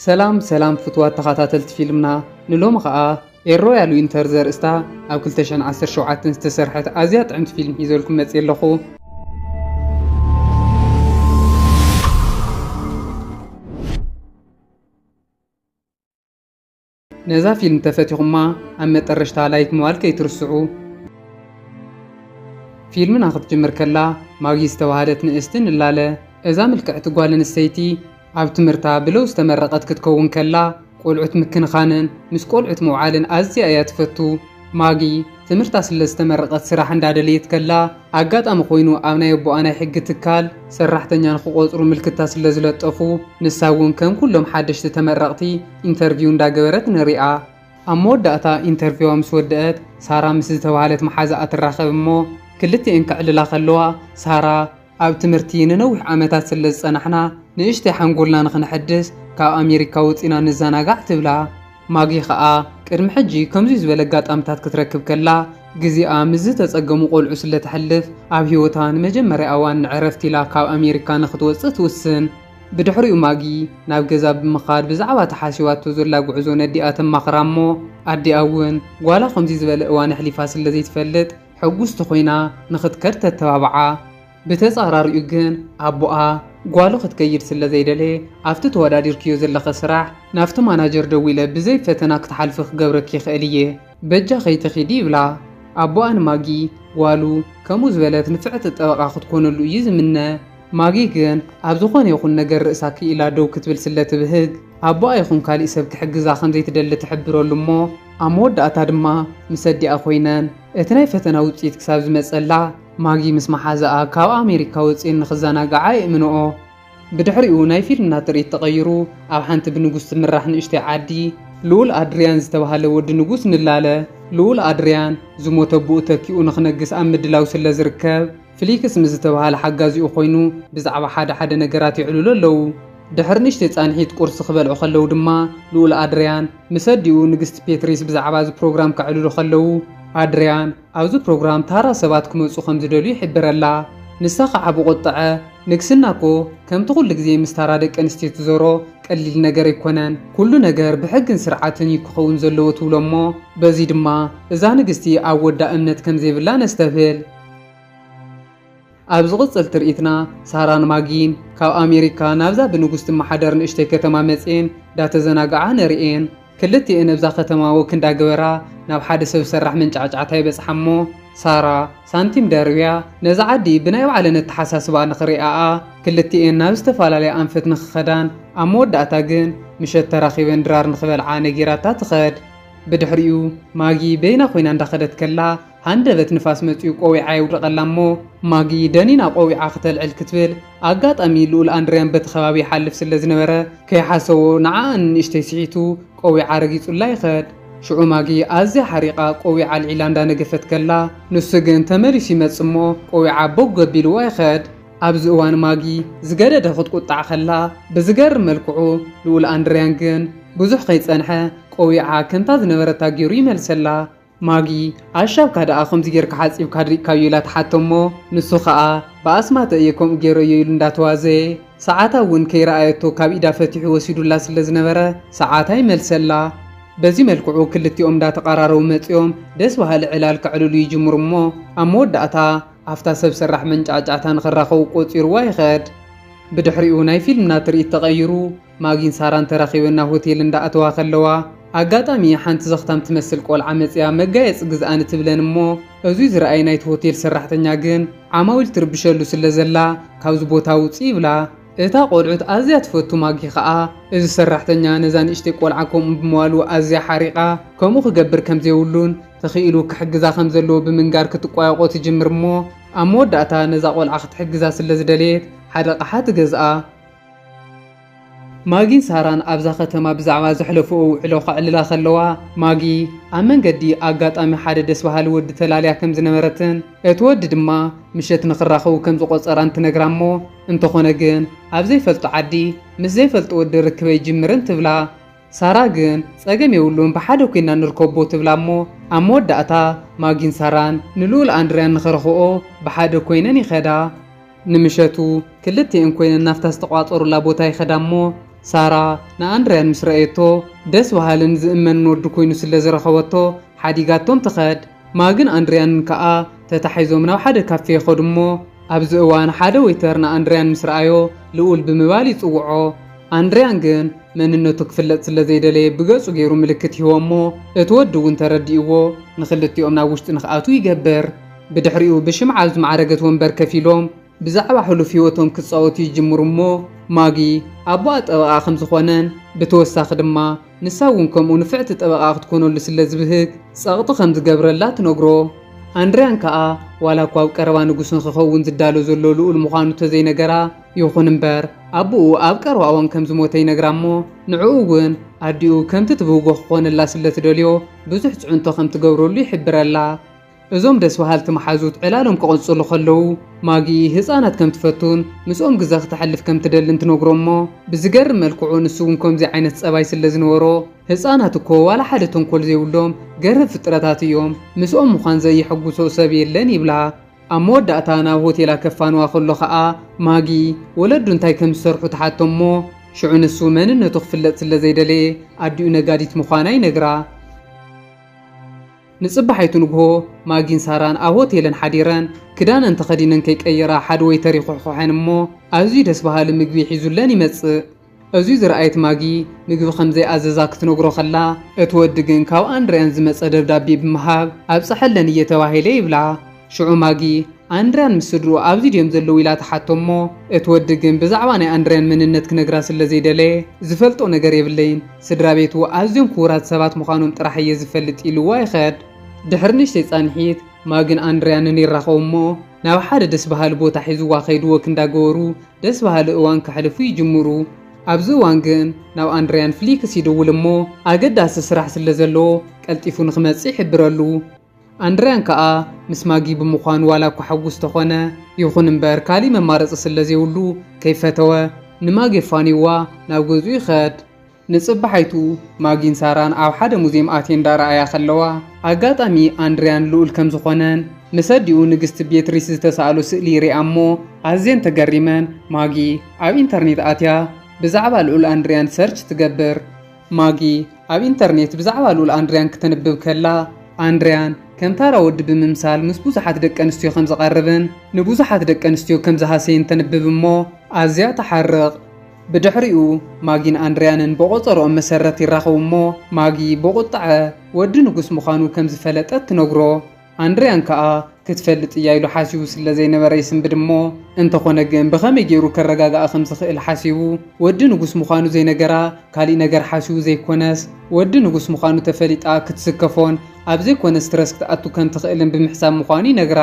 ሰላም ሰላም ፍትዋት ተኸታተልቲ ፊልምና ንሎሚ ኸኣ ኤሮ ያሉ ኢንተር ዘርእስታ ኣብ 2017 ዝተሰርሐት ኣዝያ ጥዕምቲ ፊልም ሒዘልኩም መጽየ ኣለኹ። ነዛ ፊልም ተፈቲኹማ ኣብ መጠረሽታ ላይክ ምባል ከይትርስዑ። ፊልምና ክትጅምር ከላ ማጊ ዝተባህለት ንእስቲ ንላለ። እዛ ምልክዕቲ ጓል ኣንስተይቲ ኣብ ትምህርታ ብለው ዝተመረቐት ክትከውን ከላ ቆልዑት ምክንኻንን ምስ ቆልዑት ምውዓልን ኣዝያ እያ ትፈቱ። ማጊ ትምህርታ ስለ ዝተመረቐት ስራሕ እንዳደለየት ከላ ኣጋጣሚ ኮይኑ ኣብ ናይ ኣቦኣ ናይ ሕጊ ትካል ሰራሕተኛ ንክቖፅሩ ምልክታ ስለ ዝለጠፉ ንሳ እውን ከም ኩሎም ሓደሽቲ ተመረቕቲ ኢንተርቪው እንዳገበረት ንሪኣ። ኣብ መወዳእታ ኢንተርቪዋ ምስ ወደኣት ሳራ ምስ ዝተብሃለት መሓዛኣ ትራኸብ እሞ ክልቲኤን ከዕልላ ከለዋ ሳራ፣ ኣብ ትምህርቲ ንነዊሕ ዓመታት ስለ ዝጸናሕና፣ ንእሽተይ ሓንጎልና ንኽነሐድስ ካብ ኣሜሪካ ወጺእና ንዘናጋዕ ትብላ። ማጊ ከኣ ቅድሚ ሕጂ ከምዚ ዝበለ ኣጋጣምታት ክትረክብ ከላ፣ ግዜኣ ምስ ዝተጸገሙ ቆልዑ ስለ ተሕልፍ፣ ኣብ ህይወታ ንመጀመርያ ኣዋን ንዕረፍቲ ኢላ ካብ ኣሜሪካ ንኽትወጽእ ትውስን። ብድሕሪኡ ማጊ ናብ ገዛ ብምኻድ ብዛዕባ እቲ ሓሲባቶ ዘላ ጉዕዞ ነዲኣ ተማኽራ እሞ፣ ኣዲኣ እውን ጓላ ከምዚ ዝበለ እዋን ኣሕሊፋ ስለ ዘይትፈልጥ፣ ሕጉስቲ ኮይና ንኽትከድ ተተባብዓ። ብተጻራሪኡ ግን ኣቦኣ ጓሉ ክትከይድ ስለ ዘይደለየ ኣብቲ ተወዳዲርክዮ ዘለኺ ስራሕ ናብቲ ማናጀር ደዊለ ብዘይ ፈተና ክትሓልፊ ክገብረኪ ይኽእል እየ በጃ ከይትኺዲ ይብላ። ኣቦኣ ንማጊ ጓሉ ከምኡ ዝበለት ንፍዕቲ ጠበቓ ክትኮነሉ እዩ ዝምነ። ማጊ ግን ኣብ ዝኾነ ይኹን ነገር ርእሳ ክኢላ ደው ክትብል ስለ ትብህግ፣ ኣቦኣ ይኹን ካሊእ ሰብ ክሕግዛ ከም ዘይትደሊ ትሕብረሉ እሞ ኣብ መወዳእታ ድማ ምስ ኣዲኣ ኮይነን እቲ ናይ ፈተና ውጽኢት ክሳብ ዝመጸላ ማጊ ምስ መሓዛኣ ካብ ኣሜሪካ ወጺኤን ንኽዘናግዓ የእምንኦ። ብድሕሪኡ ናይ ፊልምና ትርኢት ተቐይሩ ኣብ ሓንቲ ብንጉስ ትምራሕ ንእሽተይ ዓዲ፣ ልኡል ኣድርያን ዝተባህለ ወዲ ንጉስ ንላለ ልኡል ኣድርያን ዝሞተ ኣቦኡ ተኪኡ ንኽነግስ ኣብ ምድላው ስለ ዝርከብ፣ ፍሊክስ ምስ ዝተባህለ ሓጋዚኡ ኮይኑ ብዛዕባ ሓደ ሓደ ነገራት የዕልሉ ኣለዉ። ድሕሪ ንእሽተይ ጻንሒት ቁርሲ ክበልዑ ከለዉ ድማ ልኡል ኣድርያን ምስ ኣዲኡ ንግስቲ ፔትሪስ ብዛዕባ እዚ ፕሮግራም ከዕልሉ ከለዉ፣ ኣድርያን ኣብዚ ፕሮግራም ታራ ሰባት ክመጹ ከም ዝደልዩ ይሕብረላ። ንሳ ከኣ ብቁጥዐ፣ ንግስና እኮ ከምቲ ኩሉ ግዜ ምስ ታራ ደቂ ኣንስትዮ ትዞሮ ቀሊል ነገር ኣይኮነን። ኩሉ ነገር ብሕግን ስርዓትን እዩ ክኸውን ዘለዎ ትብሎ እሞ በዚ ድማ እዛ ንግስቲ ኣብ ወዳ እምነት ከም ዘይብላ ነስተብህል። ኣብ ዝቕጽል ትርኢትና፣ ሳራን ማጊን ካብ ኣሜሪካ ናብዛ ብንጉስ ትመሓደር ንእሽተይ ከተማ መጺኤን ዳተዘናግዓ ነርእየን። ክልቲኤን ኣብዛ ከተማ ወክ እንዳገበራ ናብ ሓደ ሰብ ሰራሕ መንጫዕጫዕታ ይበጽሓ እሞ ሳራ ሳንቲም ደርብያ ነዛ ዓዲ ብናይ ባዕለን ኣተሓሳስባ ንኽሪኣኣ ክልቲኤን ናብ ዝተፈላለያ ኣንፈት ንኽኸዳን ኣብ መወዳእታ ግን ምሸት ተራኺበን ድራር ንኽበልዓ ነጊራታ ትኸድ። ብድሕሪኡ ማጊ በይና ኮይና እንዳኸደት ከላ ሃንደበት ንፋስ መጺኡ ቆዊዓ የውድቐላ እሞ ማጊ ደኒና ቆዊዓ ክተልዕል ክትብል ኣጋጣሚ ልኡል ኣንድርያን በቲ ከባቢ ይሓልፍ ስለ ዝነበረ ከይሓሰቦ ንዓኣ ንንእሽተይ ስሒቱ ቆዊዓ ረጊጹላ ይኸድ። ሽዑ ማጊ ኣዝያ ሓሪቓ ቆዊዓ ኣልዒላ እንዳ ነገፈት ከላ ንሱ ግን ተመሊሱ ይመጽእ እሞ ቆዊዓ ቦግ ኣቢልዋ ይኸድ። ኣብዚ እዋን ማጊ ዝገደደ ክትቁጣዕ ከላ ብዝገርም መልክዑ ልኡል ኣንድርያን ግን ብዙሕ ከይጸንሐ ቆዊዓ ከምታ ዝነበረታ ጌሩ ይመልሰላ። ማጊ ኣሻብካ ደኣ ከምዚ ጌርካ ሓጺብካ ኣድሪቅካዮ ኢላ ትሓቶ እሞ ንሱ ከኣ ብኣስማተ እየ ከምኡ ጌረዮ ኢሉ እንዳተዋዘየ ሰዓታ እውን ከይረኣየቶ ካብ ኢዳ ፈቲሑ ወሲዱላ ስለ ዝነበረ ሰዓታ ይመልሰላ በዚ መልክዑ ክልቲኦም እንዳተቀራረቡ መጺኦም ደስ በሃሊ ዕላል ከዕልሉ ይጅምሩ እሞ ኣብ መወዳእታ ኣብታ ሰብ ሰራሕ መንጫዕጫዕታ ንክራከቡ ቆጺርዋ ይከድ ብድሕሪኡ ናይ ፊልምና ትርኢት ተቀይሩ ማጊን ሳራን ተራኺበን ናብ ሆቴል እንዳ ኣተዋ ከለዋ ኣጋጣሚ ሓንቲ ዘኽታም ትመስል ቆልዓ መጺኣ መጋየጺ ግዝኣኒ ትብለን እሞ እዙይ ዝረኣየ ናይቲ ሆቴል ሰራሕተኛ ግን ዓማዊል ትርብሸሉ ስለ ዘላ ካብዚ ቦታ ውጺ ይብላ። እታ ቆልዑት ኣዝያ ትፈቱ ማጊ ከኣ እዚ ሰራሕተኛ ነዛ ንእሽተይ ቆልዓ ከምኡ ብምባሉ ኣዝያ ሓሪቓ ከምኡ ክገብር ከም ዘይብሉን ተኺኢሉ ክሕግዛ ከም ዘለዎ ብምንጋር ክትቋየቖ ትጅምር እሞ ኣብ መወዳእታ ነዛ ቆልዓ ክትሕግዛ ስለ ዝደለየት ሓደ ኣቕሓ ትገዝኣ። ማጊን ሳራን ኣብዛ ከተማ ብዛዕባ ዘሕለፍኦ ውዕሎ ከዕልላ ከለዋ፣ ማጊ ኣብ መንገዲ ኣጋጣሚ ሓደ ደስ በሃሊ ወዲ ተላልያ ከም ዝነበረትን እቲ ወዲ ድማ ምሸት ንኽራኸቡ ከም ዝቖጸራን ትነግራ እሞ እንተኾነ ግን ኣብ ዘይፈልጦ ዓዲ ምስ ዘይፈልጦ ወዲ ርክበይ ጅምርን ትብላ። ሳራ ግን ጸገም የብሉን ብሓደ ኮይና ንርከቦ ትብላ እሞ ኣብ መወዳእታ ማጊን ሳራን ንልኡል ኣንድርያን ንኸረኽብኦ ብሓደ ኮይነን ይኸዳ። ንምሸቱ ክልቲኤን ኮይነን ናብታ ዝተቋጸሩላ ቦታ ይኸዳ እሞ ሳራ ንኣንድርያን ምስ ረኣየቶ ደስ በሃልን ዝእመንን ወዲ ኮይኑ ስለዝረኸበቶ ሓዲጋቶም ትኸድ። ማግን ኣንድርያንን ከኣ ተታሒዞም ናብ ሓደ ካፌ ይኸዱ እሞ፣ ኣብዚ እዋን ሓደ ወይተር ንኣንድርያን ምስ ረኣዮ ልኡል ብምባል ይጽውዖ። ኣንድርያን ግን መንነቱ ክፍለጥ ስለ ዘይደለየ ብገጹ ገይሩ ምልክት ይህቦ እሞ፣ እቲ ወዲ እውን ተረዲእዎ ንኽልቲኦም ናብ ውሽጢ ንኽኣትዉ ይገብር። ብድሕሪኡ ብሽምዓ ኣብ ዝማዕረገት ወንበር ከፍ ኢሎም፣ ብዛዕባ ሕሉፍ ህይወቶም ክጻወቱ ይጅምሩ እሞ፣ ማጊ ኣቦኣ ጠበቓ ከም ዝዀነን ብተወሳኺ ድማ ንሳ እውን ከምኡ ንፍዕቲ ጠበቓ ክትኰነሉ ስለ ዝብህግ ጸቕጢ ከም ዝገብረላ ትነግሮ። ኣንድርያን ከኣ ዋላ እኳ ኣብ ቀረባ ንጉስ ንኽኸውን ዝዳሎ ዘሎ ልኡል ምዃኑ እንተ ዘይነገራ፣ ይኹን እምበር ኣቦኡ ኣብ ቀረባ እዋን ከም ዝሞተ ይነግራ እሞ ንዕኡ እውን ኣዲኡ ከምቲ ትብህጎ ክዀነላ ስለ ትደልዮ ብዙሕ ጽዕንቶ ከም ትገብረሉ ይሕብረላ። እዞም ደስ በሃልቲ መሓዙት ዕላሎም ክቕጽሉ ከለዉ፣ ማጊ ህጻናት ከም ትፈቱን ምስኦም ግዘ ክተሕልፍ ከም ትደልን ትነግሮ'ሞ፣ ብዝገርም መልክዑ ንሱ እውን ከምዚ ዓይነት ጸባይ ስለ ዝነበሮ፣ ህጻናት እኮ ዋላ ሓደ ተንኮል ዘይብሎም ገርህብ ፍጥረታት እዮም፣ ምስኦም ምዃን ዘየሐጉሶ ሰብ የለን ይብላ። ኣብ መወዳእታ ናብ ሆቴላ ከፋንዋ ከሎ ከኣ፣ ማጊ ወለዱ እንታይ ከም ዝሰርሑ ትሓቶ'ሞ፣ ሽዑ ንሱ መንነቱ ክፍለጥ ስለ ዘይደለየ ኣዲኡ ነጋዲት ምዃና ይነግራ። ንጽባሒቱ ንግሆ ማጊን ሳራን ኣብ ሆቴለን ሓዲረን ክዳነን ተኸዲነን ከይቀየራ ሓደ ወይተር ይኹሕኹሐን እሞ ኣዝዩ ደስ በሃሊ ምግቢ ሒዙለን ይመጽእ። እዙይ ዝረኣየት ማጊ ምግቢ ከምዘይኣዘዛ ክትነግሮ ከላ እቲ ወዲ ግን ካብ ኣንድርያን ዝመጸ ደብዳቤ ብምሃብ ኣብጽሐለን እየ ተባሂለ ይብላ። ሽዑ ማጊ፣ ኣንድርያን ምስ ስድርኡ ኣብዚ ድዮም ዘለዉ ኢላ ትሓቶ'ሞ፣ እቲ ወዲ ግን ብዛዕባ ናይ ኣንድርያን መንነት ክነግራ ስለ ዘይደለየ፣ ዝፈልጦ ነገር የብለይን፣ ስድራቤቱ ኣዝዮም ክቡራት ሰባት ምዃኖም ጥራሕ እየ ዝፈልጥ ኢሉዋ ይኸድ። ድሕሪ ንእሽተይ ጻንሒት፣ ማጊን ኣንድርያንን ይራኸቡ'ሞ፣ ናብ ሓደ ደስ በሃሊ ቦታ ሒዙዋ ከይዱ ወክ እንዳገበሩ ደስ በሃሊ እዋን ከሕልፉ ይጅምሩ። ኣብዚ እዋን ግን ናብ ኣንድርያን ፍሊክስ ይድውል'ሞ፣ ኣገዳሲ ስራሕ ስለ ዘለዎ ቀልጢፉ ንኽመጽእ ይሕብረሉ። ኣንድርያን ከኣ ምስ ማጊ ብምዃኑ ዋላ እኳ ሕጉስ ተኾነ፣ ይኹን እምበር ካሊእ መማረጺ ስለ ዘይብሉ ከይፈተወ ንማጊ ኣፋንይዋ ናብ ገዝኡ ይኸድ። ንጽባሓይቱ ማጊን ሳራን ኣብ ሓደ ሙዝየም ኣትየን እንዳረኣያ ከለዋ፣ ኣጋጣሚ ኣንድርያን ልኡል ከም ዝኾነን ምስ ኣዲኡ ንግስቲ ቤትሪስ ዝተሳእሎ ስእሊ ይሪኣ እሞ ኣዝየን ተገሪመን። ማጊ ኣብ ኢንተርኔት ኣትያ ብዛዕባ ልኡል ኣንድርያን ሰርች ትገብር። ማጊ ኣብ ኢንተርኔት ብዛዕባ ልኡል ኣንድርያን ክተንብብ ከላ፣ ኣንድርያን ከም ታራ ወዲ ብምምሳል ምስ ብዙሓት ደቂ ኣንስትዮ ከም ዝቐርብን ንብዙሓት ደቂ ኣንስትዮ ከም ዝሃሰየን ተንብብ እሞ ኣዝያ ትሓርቕ። ብድሕሪኡ ማጊን ኣንድርያንን ብቖጸርኦም መሰረት ይራኸቡ እሞ ማጊ ብቑጥዐ ወዲ ንጉስ ምዃኑ ከም ዝፈለጠት ትነግሮ። ኣንድርያን ከኣ ክትፈልጥ እያ ኢሉ ሓሲቡ ስለ ዘይነበረ ይስንብድ እሞ እንተኾነ ግን ብኸመይ ጌሩ ከረጋግኣ ከም ዝኽእል ሓሲቡ ወዲ ንጉስ ምዃኑ ዘይነገራ ካሊእ ነገር ሓሲቡ ዘይኮነስ ወዲ ንጉስ ምዃኑ ተፈሊጣ ክትስከፎን ኣብ ዘይኮነ ስትረስ ክትኣቱ ከም ትኽእልን ብምሕሳብ ምዃኑ ይነግራ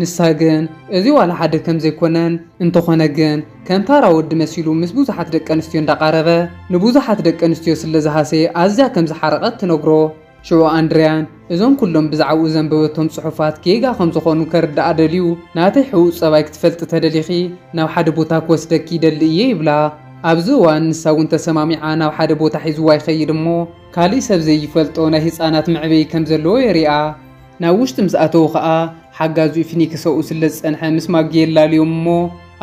ንሳ ግን እዚ ዋላ ሓደ ከም ዘይኮነን እንተኾነ ግን ከም ታራ ወዲ መሲሉ ምስ ብዙሓት ደቀንስትዮ እንዳቓረበ ንብዙሓት ደቀንስትዮ ስለ ዝሃሰየ ኣዝያ ከም ዝሓረቐት ትነግሮ። ሽዑ ኣንድርያን እዞም ኩሎም ብዛዕባኡ ዘንበበቶም ጽሑፋት ጌጋ ከም ዝኾኑ ከርድኣ ደልዩ፣ ናተይ ሕቡእ ጸባይ ክትፈልጢ ተደሊኺ ናብ ሓደ ቦታ ክወስደኪ ይደሊ እየ ይብላ። ኣብዚ እዋን ንሳ እውን ተሰማሚዓ ናብ ሓደ ቦታ ሒዝዋ ይኸይድ እሞ ካልእ ሰብ ዘይፈልጦ ናይ ህጻናት መዕበዪ ከም ዘለዎ የሪኣ። ናብ ውሽጢ ምስ ኣተዉ ከኣ ሓጋዚኡ ፊኒክስ ኣብኡ ስለ ዝጸንሐ ምስ ማጊ የላልዮም እሞ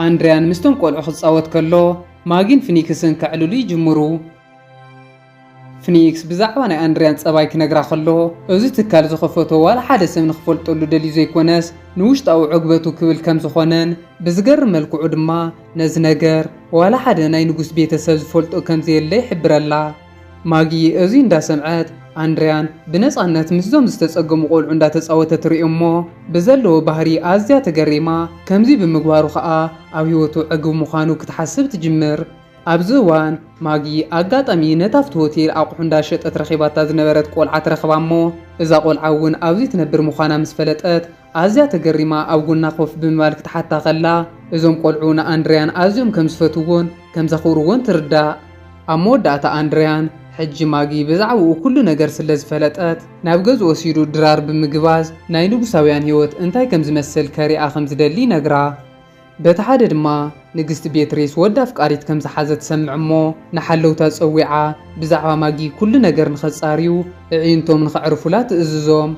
ኣንድርያን ምስቶም ቆልዑ ክጻወት ከሎ ማጊን ፊኒክስን ከዕልሉ ይጅምሩ። ፍኒክስ ብዛዕባ ናይ ኣንድርያን ጸባይ ክነግራ ከሎ፣ እዚ ትካል ዝኸፈቶ ዋላ ሓደ ሰብ ንኽፈልጠሉ ደልዩ ዘይኮነስ ንውሽጣዊ ዕግበቱ ክብል ከም ዝኾነን ብዝገርም መልክዑ ድማ ነዚ ነገር ዋላ ሓደ ናይ ንጉስ ቤተ ሰብ ዝፈልጦ ከም ዘየለ ይሕብረላ። ማጊ እዚ እንዳ ሰምዐት፣ ኣንድርያን ብነጻነት ምስዞም ዝተጸገሙ ቆልዑ እንዳ ተጻወተ ትርኢ እሞ ብዘለዎ ባህሪ ኣዝያ ተገሪማ፣ ከምዚ ብምግባሩ ከኣ ኣብ ህይወቱ ዕግብ ምዃኑ ክትሓስብ ትጅምር። ኣብዚ እዋን ማጊ ኣጋጣሚ ነታ'ፍቲ ሆቴል ኣቑሑ እንዳሸጠት ረኺባታ ዝነበረት ቆልዓ ትረኽባ'ሞ እዛ ቆልዓ'ውን ኣብዚ ትነብር ምዃና ምስ ፈለጠት ኣዝያ ተገሪማ ኣብ ጎና ኮፍ ብምባል ክትሓታ ከላ እዞም ቆልዑ ንኣንድርያን ኣዝዮም ከም ዝፈትውዎን ከም ዘኽብርዎን ትርዳእ። ኣብ መወዳእታ ኣንድርያን ሕጂ ማጊ ብዛዕባኡ ኩሉ ነገር ስለ ዝፈለጠት ናብ ገዝኡ ወሲዱ ድራር ብምግባዝ ናይ ንጉሳውያን ህይወት እንታይ ከም ዝመስል ከሪኣ ከም ዝደሊ ይነግራ። በቲ ሓደ ድማ ንግስቲ ቤትሪስ ወዲ ኣፍቃሪት ከም ዝሓዘት ትሰምዕ እሞ ንሓለውታ ጸዊዓ ብዛዕባ ማጊ ኩሉ ነገር ንኸጻርዩ እዒንቶም ንኸዕርፉላ ትእዝዞም።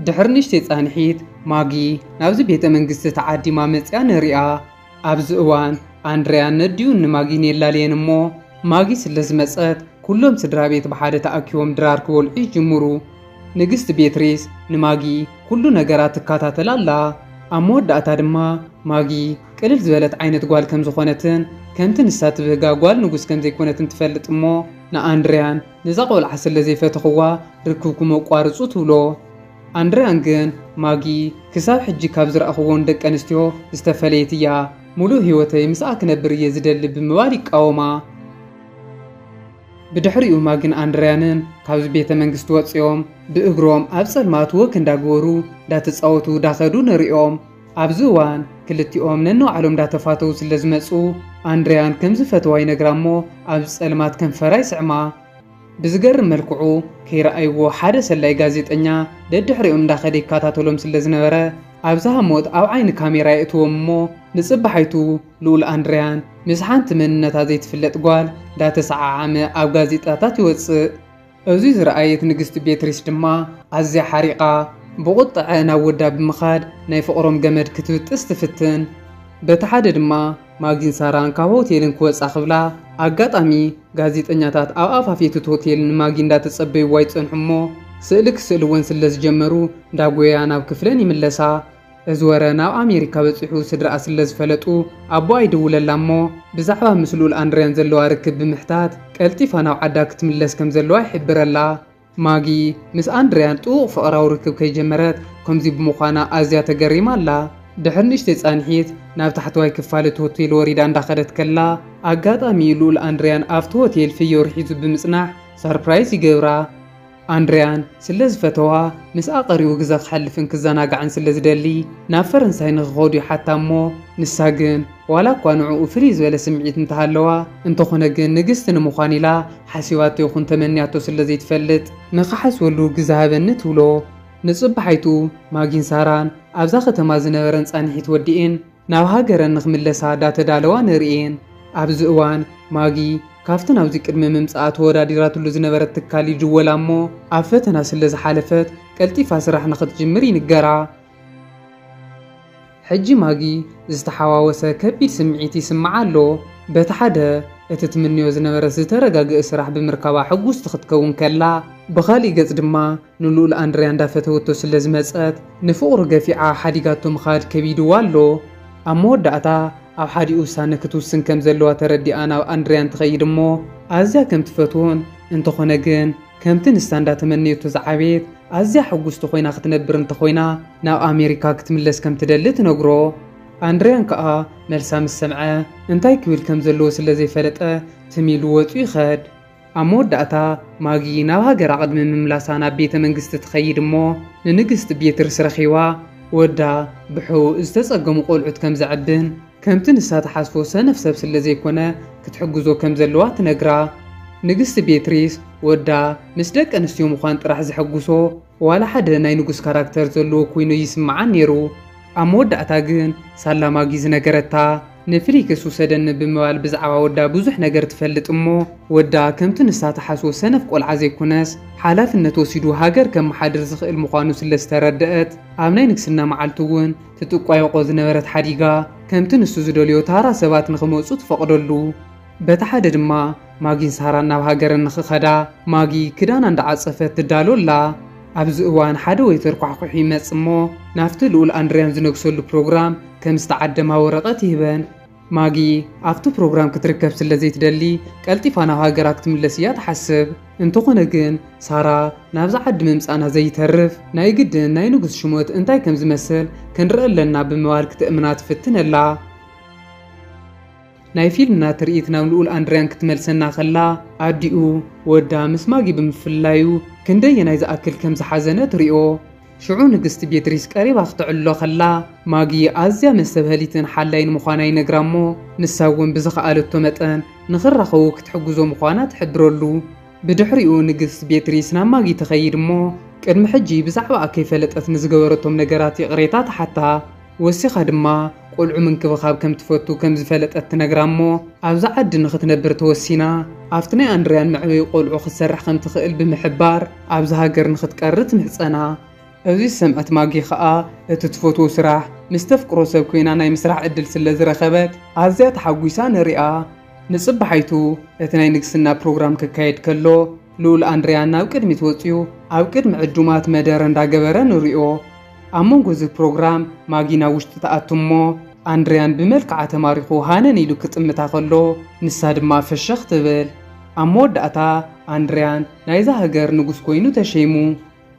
ድሕሪ ንእሽተይ ጻንሒት ማጊ ናብዚ ቤተ መንግስቲ ተዓዲማ መጺኣ ንርእያ። ኣብዚ እዋን ኣንድረያን ነዲኡን ንማጊን የላልየን እሞ ማጊ ስለ ዝመጸት ኩሎም ስድራ ቤት ብሓደ ተኣኪቦም ድራር ክበልዑ ይጅምሩ። ንግስቲ ቤትሪስ ንማጊ ኩሉ ነገራ ትካታተል ኣላ፣ ኣብ መወዳእታ ድማ ማጊ ቅልል ዝበለት ዓይነት ጓል ከም ዝኾነትን ከምቲ ንሳ ትብህጋ ጓል ንጉስ ከም ዘይኮነትን ትፈልጥ እሞ ንኣንድርያን ነዛ ቆልዓ ስለ ዘይፈተኽዋ ርክብኩም ኣቋርጹ ትብሎ። ኣንድርያን ግን ማጊ ክሳብ ሕጂ ካብ ዝረኣኽወን ደቂ ኣንስትዮ ዝተፈለየት እያ፣ ምሉእ ህይወተይ ምስኣ ክነብር እየ ዝደሊ ብምባል ይቃወማ። ብድሕሪኡ ማግን ኣንድርያንን ካብዚ ቤተ መንግስቲ ወጺኦም ብእግሮም ኣብ ጸልማት ወክ እንዳግበሩ ዳተጻወቱ ዳኸዱ ንርእዮም። ኣብዚ እዋን ክልቲኦም ነንባዕሎም ዳተፋተዉ ስለ ዝመጹ ኣንድርያን ከም ዝፈተዋ ይነግራ እሞ ኣብዚ ጸልማት ከንፈራ ይስዕማ። ብዝገርም መልክዑ ከይረኣይዎ ሓደ ሰላዪ ጋዜጠኛ ደድሕሪኦም እንዳኸደ ይከታተሎም ስለ ዝነበረ ኣብ ዝሃሞት ኣብ ዓይኒ ካሜራ የእትዎም እሞ ንጽባሓይቱ ልኡል ኣንድርያን ምስ ሓንቲ መንነታ ዘይትፍለጥ ጓል እንዳተሰዓዓመ ኣብ ጋዜጣታት ይወጽእ። እዚ ዝረኣየት ንግስቲ ቤትሪስ ድማ ኣዝያ ሓሪቓ ብቑጥዐ ናብ ወዳ ብምኻድ ናይ ፍቕሮም ገመድ ክትብጥስ ትፍትን። በቲ ሓደ ድማ ማጊን ሳራን ካብ ሆቴልን ክወጻ ክብላ ኣጋጣሚ ጋዜጠኛታት ኣብ ኣፋፌት'ቲ ሆቴል ንማጊ እንዳተጸበይዋ ይጸንሑ'ሞ ስእሊ ክስእልወን ስለዝጀመሩ እንዳጎየያ ናብ ክፍለን ይምለሳ። እዚ ወረ ናብ ኣሜሪካ በጺሑ ስድራኣ ስለ ዝፈለጡ ኣቦኣ ይድውለላ እሞ ብዛዕባ ምስ ልኡል ኣንድርያን ዘለዋ ርክብ ብምሕታት ቀልጢፋ ናብ ዓዳ ክትምለስ ከም ዘለዋ ይሕብረላ። ማጊ ምስ ኣንድርያን ጥቡቕ ፍቕራዊ ርክብ ከይጀመረት ከምዚ ብምዃና ኣዝያ ተገሪማ ኣላ። ድሕሪ ንእሽተይ ጻንሒት ናብ ታሕተዋይ ክፋል እቲ ሆቴል ወሪዳ እንዳኸደት ከላ ኣጋጣሚ ልኡል ኣንድርያን ኣብቲ ሆቴል ፍዮሪ ሒዙ ብምጽናሕ ሳርፕራይዝ ይገብራ። ኣንድርያን ስለ ዝፈተዋ፣ ምስኣ ቀሪቡ ግዘ ክሐልፍን ክዘናጋዕን ስለ ዝደሊ ናብ ፈረንሳይ ንክኸዱ ይሓታ እሞ ንሳ ግን ዋላ እኳ ንዕኡ ፍልይ ዝበለ ስምዒት እንተሃለዋ እንተኾነ ግን ንግስቲ ንምዃን ኢላ ሓሲባቶ ይኹን ተመንያቶ ስለ ዘይትፈልጥ ንክሓስበሉ ግዘ ሃበኒ ትብሎ። ንጽባሓይቱ ማጊን ሳራን ኣብዛ ከተማ ዝነበረን ጻንሒት ወዲኤን፣ ናብ ሃገረን ንክምለሳ ዳተዳለዋ ንርእየን። ኣብዚ እዋን ማጊ ካብቲ ናብዚ ቅድሚ ምምጽኣ ተወዳዲራትሉ ዝነበረት ትካል ይድወላ እሞ ኣብ ፈተና ስለ ዝሓለፈት ቀልጢፋ ስራሕ ንክትጅምር ይንገራ። ሕጂ ማጊ ዝተሓዋወሰ ከቢድ ስምዒት ይስምዓ ኣሎ። በቲ ሓደ እቲ ትምነዮ ዝነበረት ዝተረጋግእ ስራሕ ብምርካባ ሕጉስቲ ክትከውን ከላ፣ ብኻልእ ገጽ ድማ ንልኡል ኣንድርያ እንዳፈተወቶ ስለ ዝመጸት ንፍቕሩ ገፊዓ ሓዲጋቶ ምኻድ ከቢድዋ ኣሎ። ኣብ መወዳእታ ኣብ ሓዲ ውሳነ ክትውስን ከም ዘለዋ ተረዲኣ ናብ ኣንድርያ እንትኸይድ እሞ ኣዝያ ከም ትፈትዎን እንተኾነ ግን ከምቲ ንሳ እንዳተመነየቶ ዝዓበየት ኣዝያ ሕጉስቲ ኮይና ክትነብር እንተኾይና ናብ ኣሜሪካ ክትምለስ ከም ትደሊ ትነግሮ። ኣንድርያን ከኣ መልሳ ምስ ሰምዐ እንታይ ክብል ከም ዘለዎ ስለ ዘይፈለጠ ትም ኢሉ ወጹ ይኸድ። ኣብ መወዳእታ፣ ማጊ ናብ ሃገራ ቅድሚ ምምላሳ ናብ ቤተ መንግስቲ ትኸይድ እሞ ንንግስቲ ቤትርስ ረኺባ ወዳ ብሕውእ ዝተጸገሙ ቆልዑት ከም ዘዕብን ከምቲ ንሳ ትሓስቦ ሰነፍ ሰብ ስለ ዘይኮነ ክትሕግዞ ከም ዘለዋ ትነግራ። ንግስቲ ቤትሪስ ወዳ ምስ ደቀንስትዮ ምዃን ጥራሕ ዘሐጉሶ፣ ዋላ ሓደ ናይ ንጉስ ካራክተር ዘለዎ ኮይኑ ኣይስምዓን ኔሩ ኣብ መወዳእታ ግን ሳላ ማጊ ዝነገረታ ንፍሊክስ ውሰደኒ ብምባል ብዛዕባ ወዳ ብዙሕ ነገር ትፈልጥ እሞ ወዳ ከምቲ ንሳ ትሓስቦ ሰነፍ ቆልዓ ዘይኮነስ ሓላፍነት ወሲዱ ሃገር ከመሓድር ዝኽእል ምዃኑ ስለ ዝተረደኣት ኣብ ናይ ንግስና መዓልቱ እውን ትጥቋየቖ ዝነበረት ሓዲጋ ከምቲ ንሱ ዝደልዮ ታራ ሰባት ንኽመጹ ትፈቕደሉ በቲ ሓደ ድማ ማጊን ሳራን ናብ ሃገረን ንኽኸዳ ማጊ ክዳና እንዳዓጸፈት ትዳሎ ኣላ። ኣብዚ እዋን ሓደ ወይተር ኳሕዂሑ ይመጽእ እሞ ናብቲ ልኡል ኣንድርያን ዝነግሰሉ ፕሮግራም ከም ዝተዓደማ ወረቐት ይህበን። ማጊ ኣብቲ ፕሮግራም ክትርከብ ስለ ዘይትደሊ ቀልጢፋ ናብ ሃገራ ክትምለስ እያ ትሓስብ። እንተኾነ ግን ሳራ ናብዚ ዓዲ ምምጻእና ዘይተርፍ ናይ ግድን ናይ ንጉስ ሽሞት እንታይ ከም ዝመስል ክንርኢ ኣለና ብምባል ክትእምና ትፍትን ኣላ። ናይ ፊልምና ትርኢት ናብ ልኡል ኣንድርያን ክትመልሰና ከላ፣ ኣዲኡ፣ ወዳ ምስ ማጊ ብምፍላዩ ክንደየናይ ዝኣክል ከም ዝሓዘነት ርኦ። ሽዑ ንግስቲ ቤትሪስ ቀሪባ ክተዕልሎ ከላ፣ ማጊ ኣዝያ መስተብሀሊትን ሓላይን ምዃና ይነግራ'ሞ፣ ንሳ'ውን ብዝኸኣለቶ መጠን ንኽራኸቡ ክትሕግዞ ምዃና ትሕብረሉ። ብድሕሪኡ ንግስቲ ቤትሪስ ናብ ማጊ ትኸይድ'ሞ፣ ቅድሚ ሕጂ ብዛዕባኣ ከይፈለጠት ንዝገበረቶም ነገራት ይቕሬታ ትሓታ። ወሲኻ ድማ ቈልዑ ምንክብኻብ ከም ትፈቱ ከም ዝፈለጠት ትነግራ እሞ ኣብዛ ዓዲ ንኽትነብር ተወሲና ኣብቲ ናይ ኣንድርያን መዕበዪ ቈልዑ ክትሰርሕ ከም ትኽእል ብምሕባር ኣብዚ ሃገር ንኽትቀሪ ትምሕጸና። እዚ ዝሰምዐት ማጊ ኸኣ እቲ ትፈትዎ ስራሕ ምስ ተፍቅሮ ሰብ ኰይና ናይ ምስራሕ ዕድል ስለ ዝረኸበት ኣዝያ ተሓጒሳ ንርእያ። ንጽባሓይቱ እቲ ናይ ንግስና ፕሮግራም ክካየድ ከሎ፣ ልኡል ኣንድርያ ናብ ቅድሚት ወጺኡ ኣብ ቅድሚ ዕዱማት መደረ እንዳገበረ ንሪኦ። ኣብ መንጎ እዚ ፕሮግራም ማጊ ናብ ውሽጢ ትኣቱ እሞ ኣንድርያን ብመልክዓ ተማሪኹ ሃነን ኢሉ ክጥምታ ከሎ ንሳ ድማ ፍሽኽ ትብል። ኣብ መወዳእታ ኣንድርያን ናይዛ ሃገር ንጉስ ኮይኑ ተሸይሙ።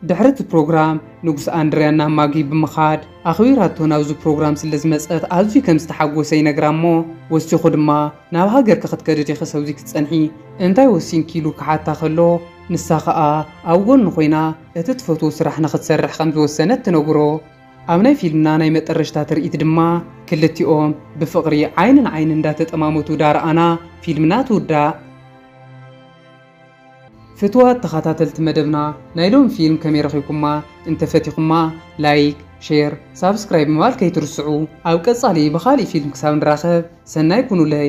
ድሕሪ እቲ ፕሮግራም ንጉስ ኣንድርያ ናብ ማጊ ብምኻድ ኣኽቢራቶ ናብዚ ፕሮግራም ስለ ዝመጸት ኣዝዩ ከም ዝተሓጎሰ ይነግራ እሞ ወሲኹ ድማ ናብ ሃገርኪ ክትከዲ ዲኺ ሰብዚ ክትጸንሒ እንታይ ወሲንኪ ኢሉ ክሓታ ከሎ ንሳ ከኣ ኣብ ጎኑ ኮይና እቲ ትፈትዎ ስራሕ ንኽትሰርሕ ከም ዝወሰነት ትነግሮ። ኣብ ናይ ፊልምና ናይ መጠረሽታ ትርኢት ድማ ክልቲኦም ብፍቕሪ ዓይኒ ንዓይኒ እንዳተጠማመቱ ዳርኣና ፊልምና ትውዳእ። ፍትዋት ተኻታተልቲ መደብና ናይ ሎሚ ፊልም ከመይ ረኺብኩማ እንተ ፈቲኹማ ላይክ ሼር ሳብስክራይብ ምባል ከይትርስዑ ኣብ ቀጻሊ ብኻሊእ ፊልም ክሳብ ንራኸብ ሰናይ ኩኑለይ።